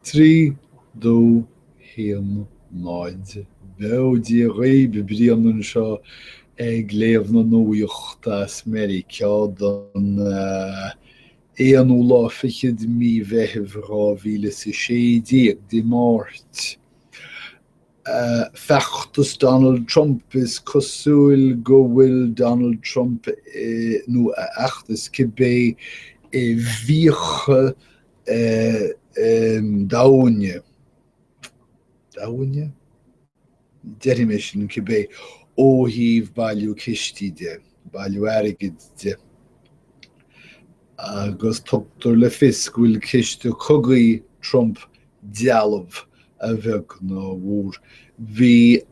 Trí do haon náid beo Dia dhaoib Brian anseo ag léamh na nuaíocht as Meiriceá don aonú lá fichead mí Mheithimh dhá mhíle is a sé déag, Dé Máirt. Feachtas Donald Trump Is cosúil go bhfuil Donald Trump nó a fheachtas, cibé i bhfiacha domhaine, domhaine? deirimse, cibé, ó thaobh bailiú cistí de, bailiú airgid de. Agus tugtar le fios go bhfuil ciste cogaidh Trump dealbh, a bheag nó a mhór. Bhí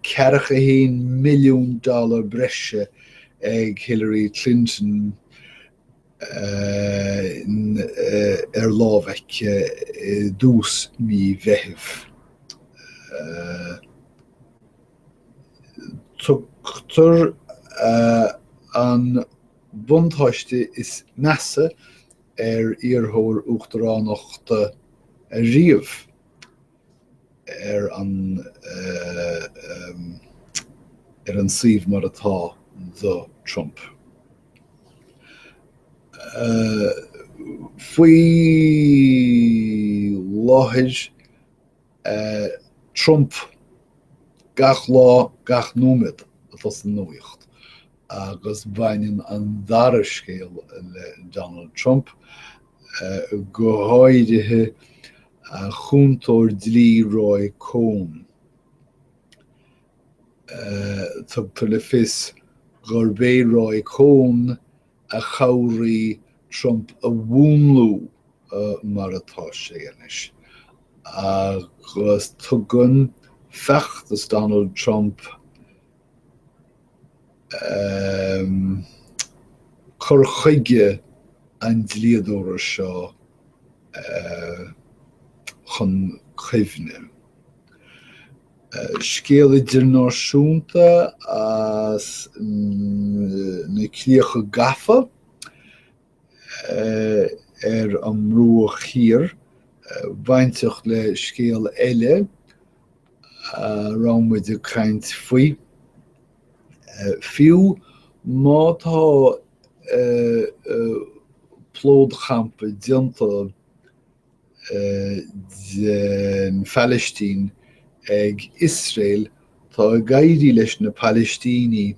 ceathracha a haon milliún dollar breise ag Hillary Clinton ar láimh aici i dtús mí Mheithimh. Tugtar an buntáiste is measa ar iarrthóir uachtaránachta ariamh ar an ar an suíomh mar atá do Trump. Faoi láthair Trump gach lá gach nóiméad atá san nuaíocht agus baineann an dara scéal le Donald Trump go háirithe a chúntóir dlí Roy Cohn. Tugtar le fios gurb é Roy Cohn a chabhraigh Trump a mhúnlú mar atá sé anois, agus tugann feachtas Donald Trump cur chuige an dlíodóra seo chun cuimhne. Scéal idirnáisiúnta as na críocha gafa ar an mBruach Thiar bainteach le scéal eile a raibh muid ag caint faoi. Fiú má tá plódchampa déanta den Phalaistín ag Iosrael, tá ag éirí leis na Palaistínigh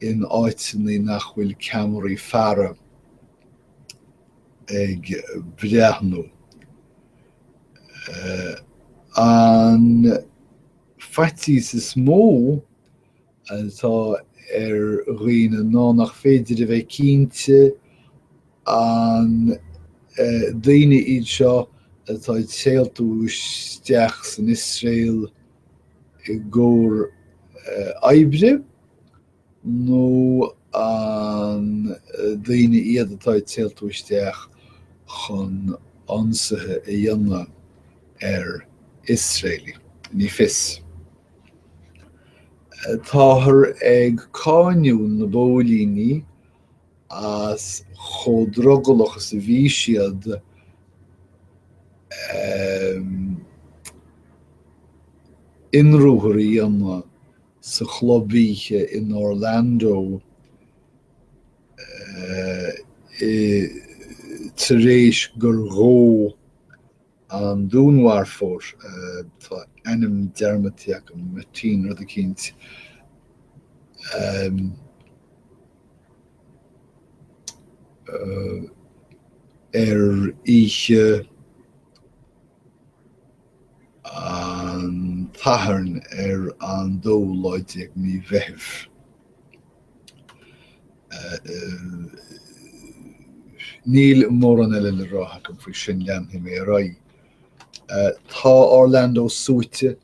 in áiteanna nach bhfuil ceamaraí faire ag breathnú. An faitíos is mó atá ar dhaoine ná nach féidir a bheith cinnte an daoine iad seo atá ag téaltú isteach san Iosrael i gcomhair oibre nó an daoine iad atá ag téaltú isteach chun ionsaithe a dhéanamh ar Iosraeligh? Ní fios. Táthar ag cáiniú na bpóilíní as chomh drogallach is a bhí siad ionruathar a dhéanamh sa chlub oíche in Orlando tar éis gur ghabh an dúnmharfóir, tá a ainm dearmadta agam, Martin rud eicínt, eh, eh, ar oíche an tSathairn ar an dóú lá déag de Mheitheamh. Níl mórán eile le rá agam faoi sin, leanfaidh mé ar aghaidh. Tá Orlando suaite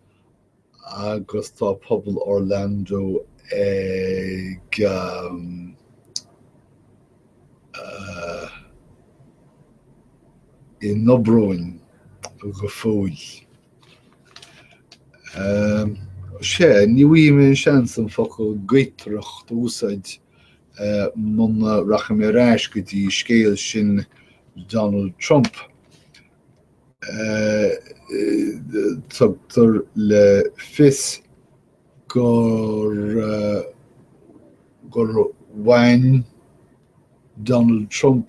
agus tá pobal Orlando ag i ndobrón go fóill. Sea, ní bhfaighidh mé an seans an focal 'gaotaireacht' a úsáid muna rachaidh mé ar ais go dtí scéal sin Donald Trump. Tugtar le fios gur bhain Donald Trump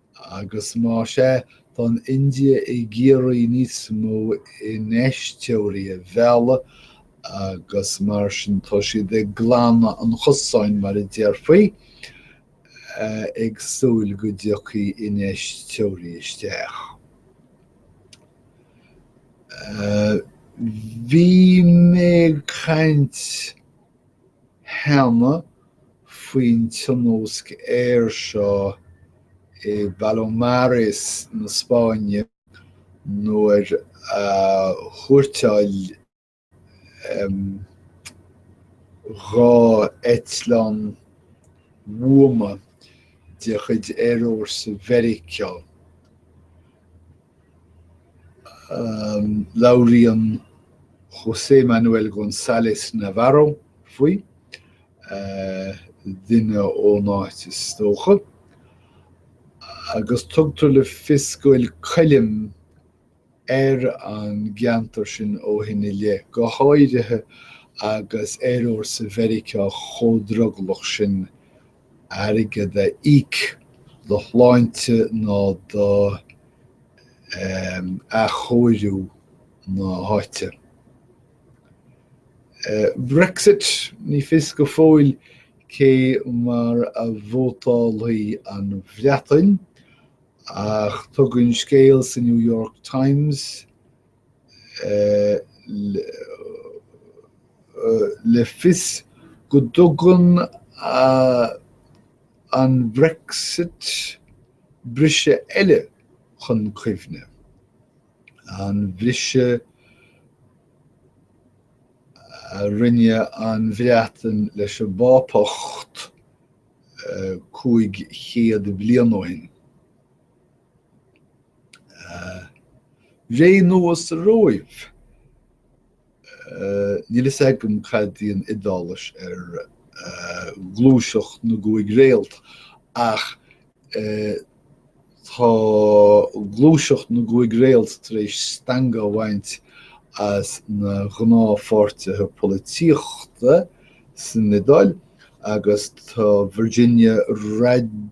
Agus más ea, tá an India ag iarraidh níos mó infheisteoirí a mhealladh agus mar sin tá siad ag glanadh an chosáin, mar a déarfaí, ag súil go dtiocfaidh infheisteoirí isteach. Bhí mé ag caint. cheana faoin tionóisc aeir seo i bPalomares na Spáinne nuair a thuairteáil dhá eitleán bhuama de chuid Aerfhórsa Mheiriceá. Labhraíonn José Manuel González Navarro faoi, duine ón áit is dócha, agus tugtar le fios go bhfuil coilm ar an gceantar sin ó shin i leith, go háirithe agus aerfhórsa Mheiriceá chomh drogallach sin airgead a íoc do shláinte ná do athchóiriú na háite. Brexit, ní fios go fóill cé mar a vótálfaidh an Bhreatain, ach tugann scéal sa New York Times le fios go dtugann an Brexit briseadh eile chun cuimhne, an briseadh a rinne an Bhreatain leis an bPápacht cúig chéad bliain ó shin. Ré nua sa Róimh? Níl fhios agam cad í an Iodáilis ar ghluaiseacht na gcúig réalt, ach tá gluaiseacht na gcúig réalt tar éis stangadh a bhaint as na gnáthpháirtithe polaitíochta san Iodáil agus tá Virginia Raggi,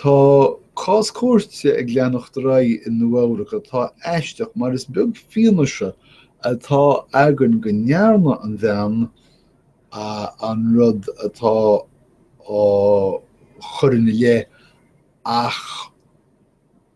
Tá cás cúirte ag leanacht ar aghaidh i Nua-Eabhrac atá aisteach mar is beag fianaise atá againn go ndearna an bhean an rud atá á chur ina leith ach,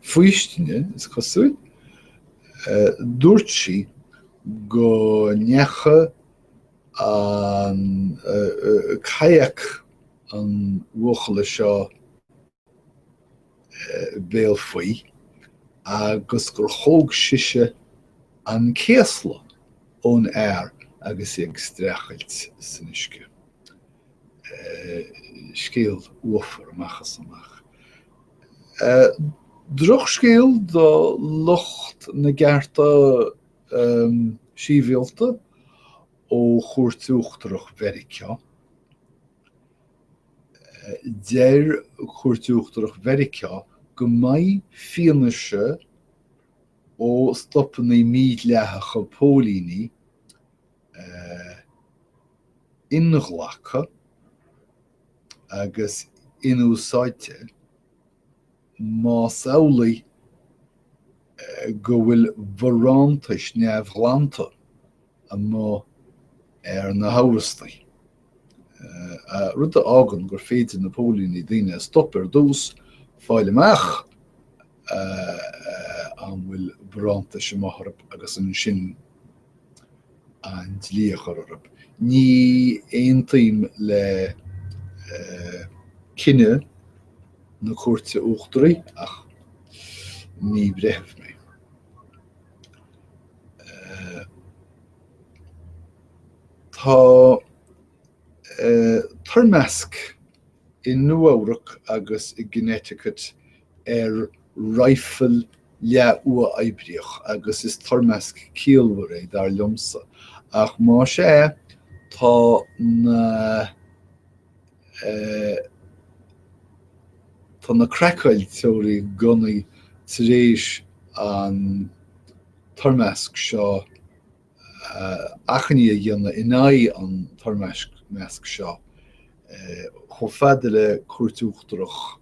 faoistine, is cosúil, dúirt sí go ndeacha an kayak an bhuachalla seo bhéal faoi agus gur thóg sise an céasla ón fhear agus í ag streachailt san uisce. Scéal uafar amach is amach. Drochscéal do lucht na gcearta síbhialta ó Chúirt Uachtarach Mheiriceá Deir Cúirt Uachtarach Mheiriceá go mbeidh fianaise ó stopanna mídhleathacha póilíní inghlactha agus inúsáidte. Más amhlaidh go bhfuil barántais neamhghlanta amuigh ar na hamhrastaigh, rud a fhágann gur féidir na póilíní daoine a stop ar dtús, fáil amach an bhfuil barántais amuigh orthu agus ansin, an dlí a chur orthu. Ní aontaím le cinneadh na Cúirte Uachtaraí ach ní breitheamh mé. Tá toirmeasc i Nua-Eabhrac agus i gConnecticut ar raidhfil leath-uathoibríoch agus is toirmeasc ciallmhar é, dar liomsa, ach más ea, tá na tá na craiceáilteoirí gunnaí tar éis an toirmeasc seo a achainí a dhéanamh in aghaidh an toirmeasc seo chomh fada le Cúirt Uachtarach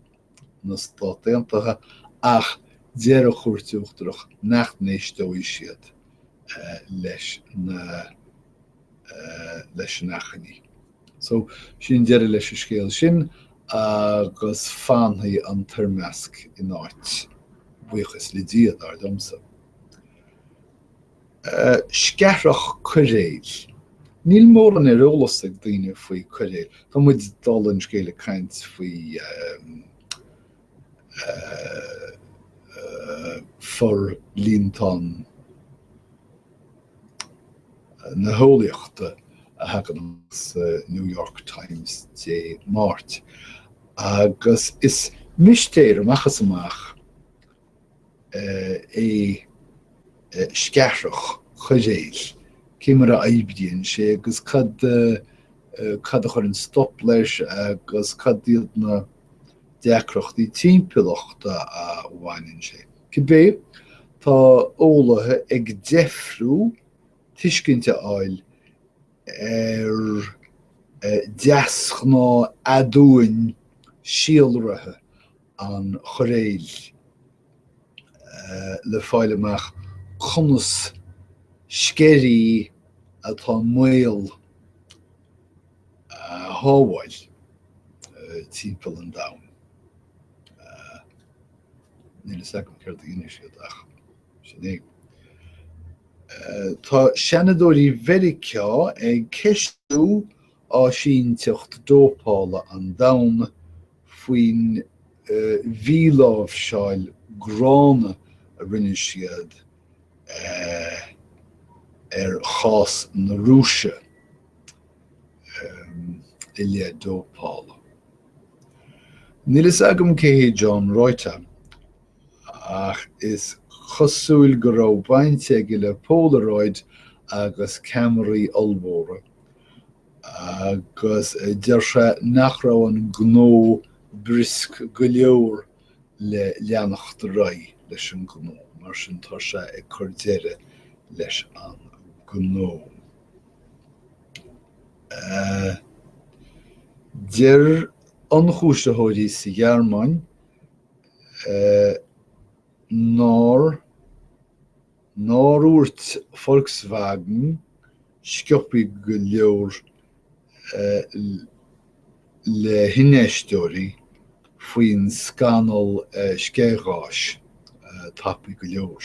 na Stát Aontaithe ach deir an Chúirt Uachtarach nach n-éisteoidh siad leis na leis an achainí. So, sin deireadh leis an scéal sin agus fanfaidh an toirmeasc in áit, buíochas le Dia, dar liomsa. Sceathrach coiréil. Níl mórán ar eolas ag daoine faoi coiréil. Tá muid dul, an scéal ag caint faoi forlíontán na heolaíochta a thagann amach sa New York Times Dé Máirt, agus is mistéir amach is amach é sceathrach choiréil, cé mar a aibíonn sé agus cad a chuireann stop leis agus cad iad na deacrachtaí timpeallachta a bhánaíonn sé. Cibé, tá eolaithe ag deifriú tuiscint a fháil ar deasghnáth aduain síolraithe an choiréil le fáil amach conas sceirí atá i mbaol a shábháil timpeall an domhan. Níl a fhios agam céard a dhéanfaidh siad ach sin é. Tá Seanadóirí Mheiriceá ag ceistiú Áisínteacht Dópála an Domhain faoin mhíláimhseáil gránna a rinne siad ar chás na Rúise i leith dópála. Níl a fhios agam cé hé John Reuter, ach is cosúil go raibh baint aige le Polaroid agus ceamaraí ollmhóra. Agus deir sé nach raibh an gnó briosc go leor le leanacht ar aghaidh leis an ngnó, mar sin tá sé ag cur deireadh leis an ngnó. Deir ionchúisitheoirí sa Ghearmáin nár Nár dhúirt Volkswagen, sciobtha go leor le hinfheisteoirí faoin scannal scéghás, tapa go leor.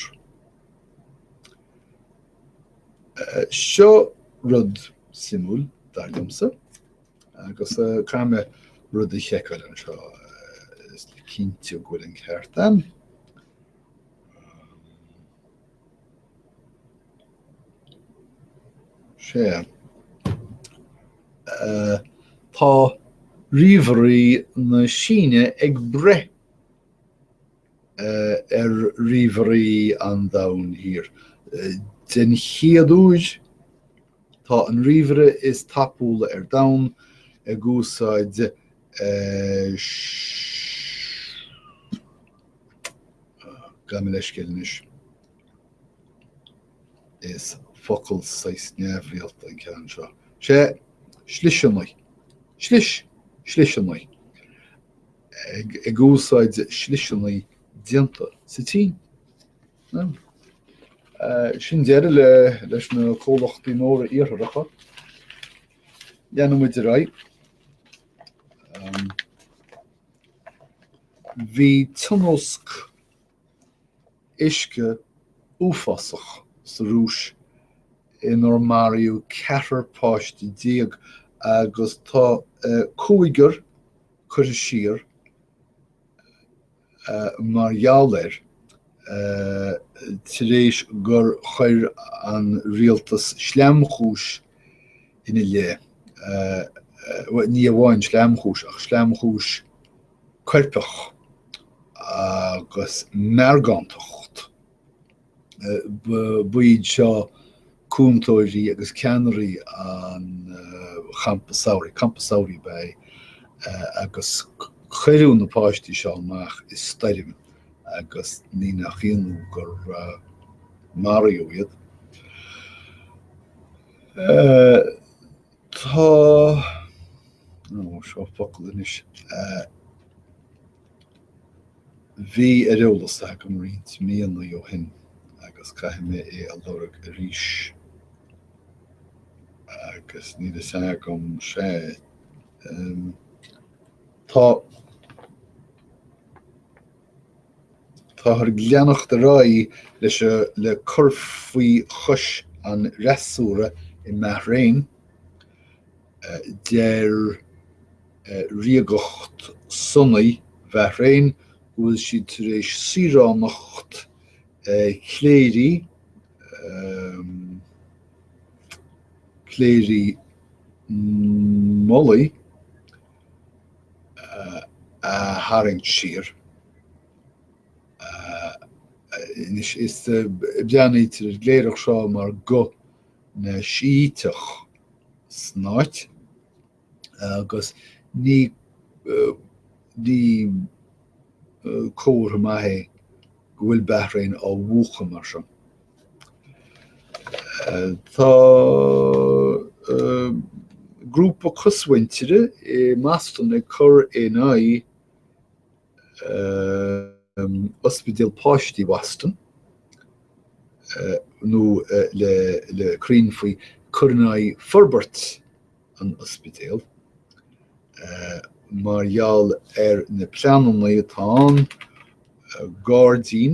Seo rud suimiúil, dar liomsa, agus caithfidh mé rud a sheiceáil anseo, is le cinntiú go bhfuil an ceart ann. Sea. Tá ríomhairí na Síne ag breith ar ríomhairí an Domhain Thiar. Den chéad uair, tá an ríomhaire is tapúla ar domhan ag úsáid gabh mo leithscéal anois, is focal saghas neamhrialta an ceann seo. Sé sliseannaí. Slis. Sliseannaí. Ag, ag úsáid sliseannaí déanta sa tSín. Ná. Sin deireadh le, leis na comhlachtaí móra Iartharacha. Leanfaidh muid ar aghaidh. Bhí tionóisc uisce uafásach sa Rúis inar maraíodh ceathrar páiste déag agus tá cúigear cúisithe mar gheall air. tar éis gur chuir an rialtas sleamchúis ina leith, ní amháin sleamchúis, ach sleamchúis coirpeach agus meargántacht. Ba iad seo cúntóirí agus ceannairí an Champa Samhraidh, campa samhraidh ba ea é, agus cuireadh na páistí seo amach i stoirm agus ní nach ionadh gur maraíodh iad. Tá, ó, seo focal anois, a bhí ar eolas agam roinnt míonna ó shin agus caithfidh mé é a lorg arís agus níl fhios agam, sea, tá, Táthar ag leanacht ar aghaidh leis le cur faoi chois an fhreasúra i mBahrain, deir ríocht Sunnaí Bhahrain go bhfuil siad tar éis saoránacht chléirigh chléirigh mullaigh a tharraingt siar. Anois is breathnaítear ar an gcléireach seo mar ghuth na Sííteach san áit agus ní ní comhartha maith é go bhfuil Bahrain á mhúchadh mar seo. Tá grúpa cosmhuintire i mBoston ag cur in aghaidh Ospidéal Páistí Bhoston, nó le cruinn faoi, cur in aghaidh forbairt an ospidéil, mar gheall ar na pleananna atá ann gairdín,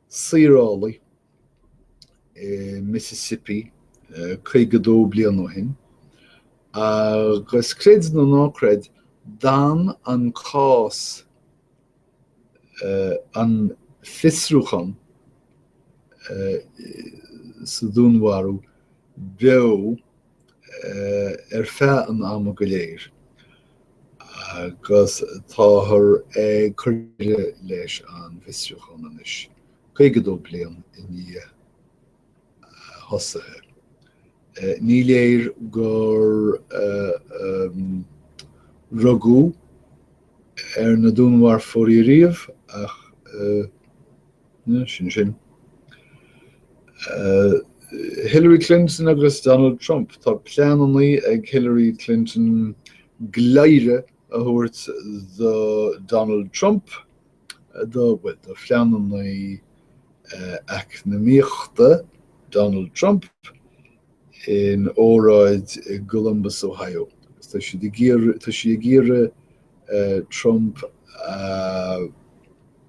saorálaí i Mississippi 52 bliain ó shin agus, creid nó ná creid, d'fhan an cás, an fiosrúchán sa dúnmharú, beo ar feadh an ama go léir agus táthar ag cur deireadh leis an bhfiosrúchán anois, 52 bliain i ndiaidh a thosaithe. Ní léir gur rugadh ar na dúnmharfóirí riamh ach. Sin sin. Hillary Clinton agus Donald Trump, tá pleanannaí ag Hillary Clinton gleadhradh a thabhairt do Donald Trump do, bhuel, do phleanannaí eacnamaíochta Donald Trump in óráid i gColumbus, Ohio. Tá siad ag iarr, tá sí ag iarraidh Trump a.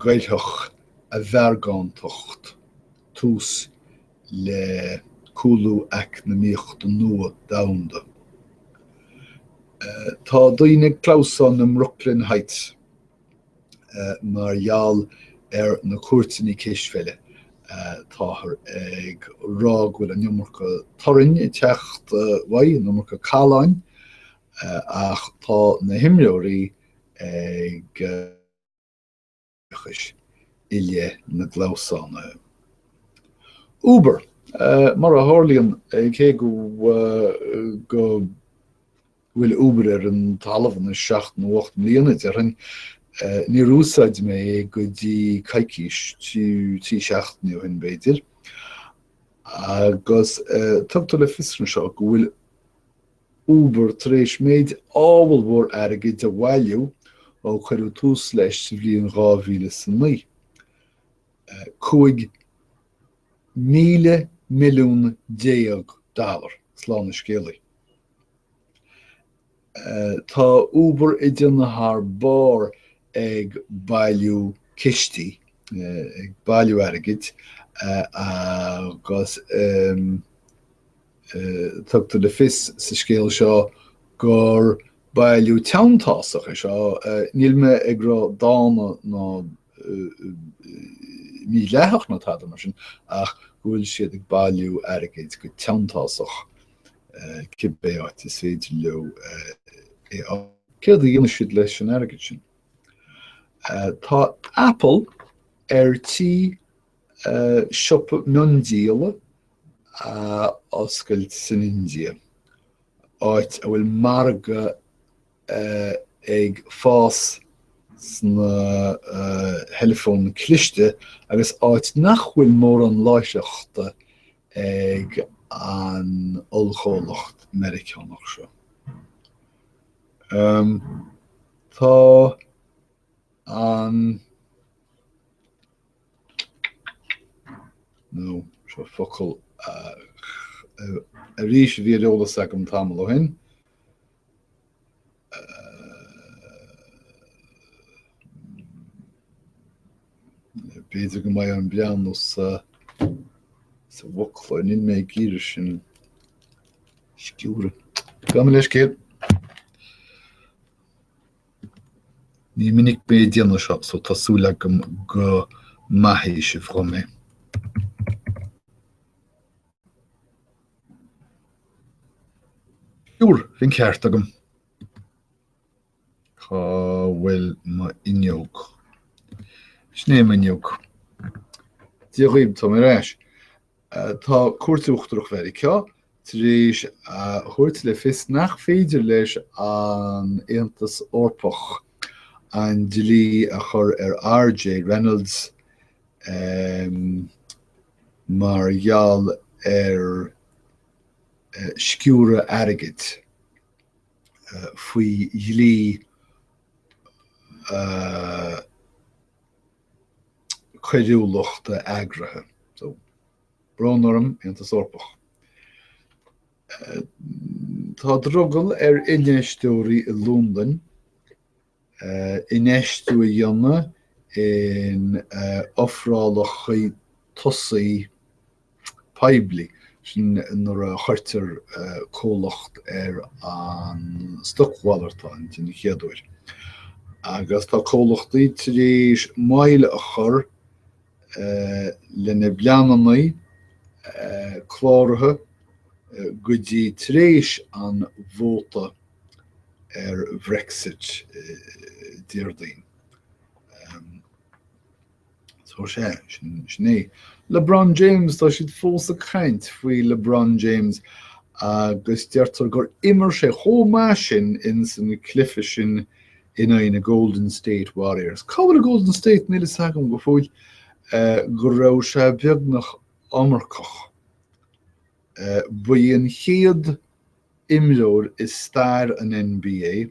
gcuirfeadh a mheargántacht tús le cúlú eacnamaíochta nua domhanda. Tá daoine ag clamhsán i mBrooklyn Heights mar gheall ar na cúirteanna cispheile. Táthar ag rá go bhfuil an iomarca torainn ag teacht uaidh, an iomarca calláin, ach tá na himreoirí ag oideachais i leith na gclamhsán. Uber, mar a tharlaíonn, cé go bhfuil Uber ar an talamh anois seacht nó ocht mbliana, déarfainn, níor úsáid mé é go dtí coicís, trí seachtainí ó shin b'fhéidir, agus tugtar le fios anseo go bhfuil Uber tar éis méid ábhalmhór airgid a bhailiú ó cuireadh tús leis sa bhliain dhá mhíle is a naoi. Cúig mhíle milliún déag dollar, slán a scéalaí. Tá Uber ag déanamh thar barr ag bailiú cistí, ag bailiú airgid, agus. Tugtar le fios sa scéal seo gur bailiú teanntásach é seo, níl mé ag rá dána ná mídhleathach ná tada mar sin, ach go bhfuil siad ag bailiú airgid go teanntásach, cibé áit is féidir leo é a fháil. Céard a dhéanfaidh siad leis an airgead sin? Tá Apple ar tí Siopa miondíola a oscailt san India, áit a bhfuil margadh ag fás sna theileafóin chliste agus áit nach bhfuil mórán láithreachta ag an ollchomhlacht Meiriceánach seo. Tá an. now seo focal arís a bhí ar eolas agam tamall ó shin, b'fhéidir go mbeidh orm breathnú sa bhfoclóir, níl mé ag iarraidh sin a stiúradh. Gabh mo leithscéal. Ní minic mé ag déanamh seo, so tá súil agam go maithfidh sibh dhom é. Sure, bhí an ceart agam. Cá bhfuil m'fhuinneog? Sin é m'fhuinneog. Dia dhaoibh, tá mé ar ais. Tá Cúirt Uachtarach Mheiriceá tar éis a thabhairt le fios nach féidir leis an Aontas Eorpach an dlí a chur ar RJ Reynolds mar gheall ar sciúradh airgid faoi dlí coiriúlachta eagraithe. So, brón orm, Aontas Eorpach. Tá drogall ar infheisteoirí i Londain eh, infheistiú a dhéanamh in eh, ofrálachaí tosaigh poiblí, sin nuair a chuirtear comhlacht ar an stocmhalartán den chéad uair. Agus tá comhlachtaí tar éis moill a chur lena bpleanannaí cláraithe go dtí tar éis an vóta ar Brexit Déardaoin. So, sin é. LeBron James, tá siad fós ag caint faoi LeBron James agus deirtear gur imir sé chomh maith sin insan chluiche sin in aghaidh na Golden State Warriors. Cá bhfuil an Golden State? Níl a fhios agam go fóill go raibh sé beagnach iomarcach. Ba é an chéad imreoir i stair an NBA.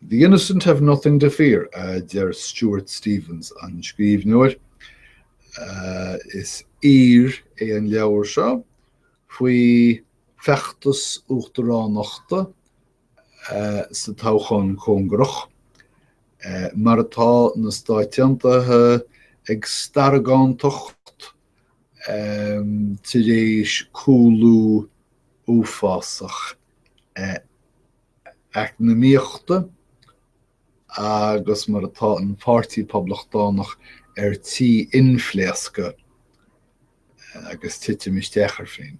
The innocent have nothing to fear, a deir Stuart Stevens, an scríbhneoir. Is aoir é an leabhar seo faoi feachtas uachtaránachta sa todhchaí chóngarach, mar atá na Stáit Aontaithe ag starragánacht tar éis cúlú uafásach eacnamaíochta agus mar atá an Páirtí Poblachtánach ar tí inphléascadh agus titim isteach ar féin.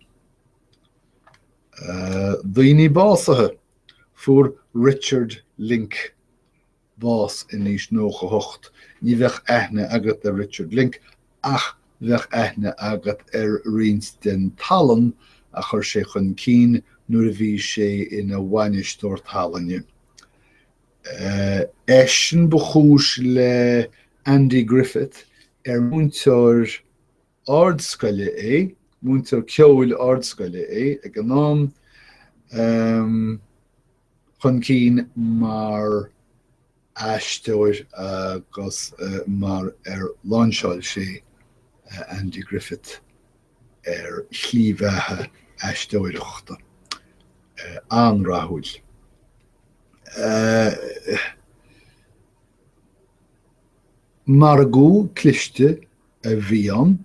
Daoine básaithe, Fuair Richard Link, bás in aois 98, ní bheadh aithne agat ar Richard Link ach bheadh aithne agat ar roinnt den tallann a chuir sé chun cinn nuair a bhí sé ina bhainisteoir tallainne. Eisean ba chúis le Andy Griffith, ar múinteoir ardscoile é, múinteoir ceoil ardscoile é ag an am, chun cinn mar aisteoir agus mar ar lainseáil sé Andy Griffith ar shlí bheatha aisteoireachta an-rathúil. Margadh cliste a bhí ann,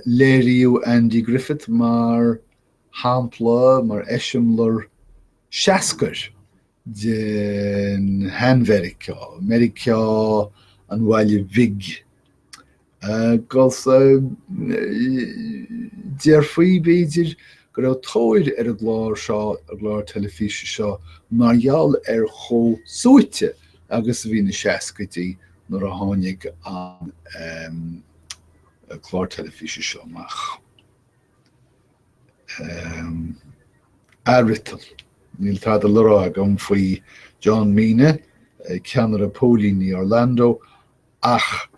Léiríodh Andy Griffith mar shampla, mar eiseamláir seascair den shean-Mheiriceá, Meiriceá an bhaile bhig, agus déarfaí, b'fhéidir, go raibh tóir ar an gclár seo, an gclár teilifíse seo, mar gheall ar chomh suaite agus a bhí na seascaidí nuair a tháinig an clár teilifíse seo amach. Athfhriotal, Níl tada le rá agam faoi John Mina, ceannaire póilíní Orlando, ach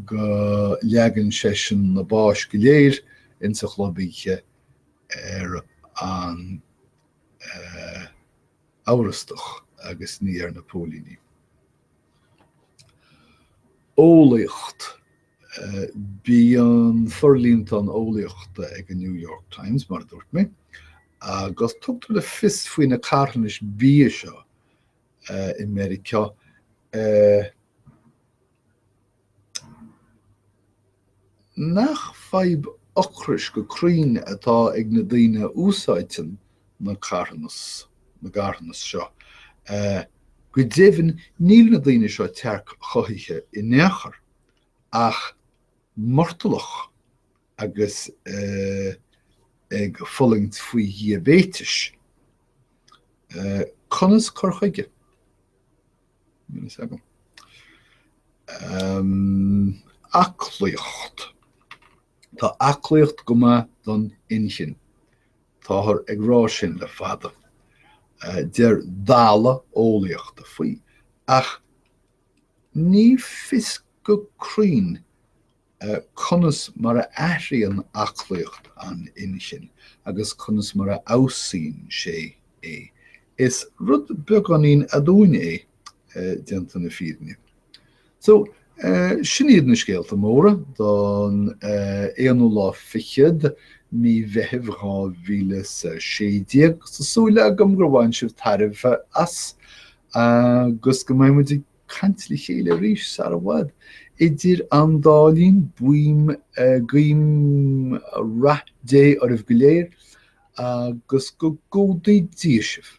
go leagann seisean na báis go léir insa chlub oíche ar an amhrastach agus ní ar na póilíní. Eolaíocht Bíonn forlíontán eolaíochta ag an New York Times, mar a dúirt mé, agus tugtar le fios faoi na carthanais bia seo i Meiriceá, nach fadhb ocrais go cruinn atá ag na daoine a úsáideann na carthanas, na gcarthanas seo. Go deimhin níl na daoine seo tearc-chothaithe in aon chor, ach murtallach agus ag fulaingt faoi dhiaibéiteas. Conas cur chuige? Aclaíocht Tá aclaíocht go maith don inchinn. Táthar ag rá sin le fada. Deir dalladh eolaíochta faoi. Ach ní fios go cruinn conas mar a athraíonn aclaíocht an inchinn agus conas mar a fheabhsaíonn sé é. Is rud beagáinín aduain é, déanta na fírinne. So, sin iad na scéalta móra don aonú lá fichead mí Mheithimh 2016. Tá súil agam gur bhain sibh tairbhe as agus go mbeidh muid ag. caint le chéile arís sar i bhfad, idir an dá linn, buím, guím, rath Dé oraibh go léir, agus go gcumhdaí Dia sibh.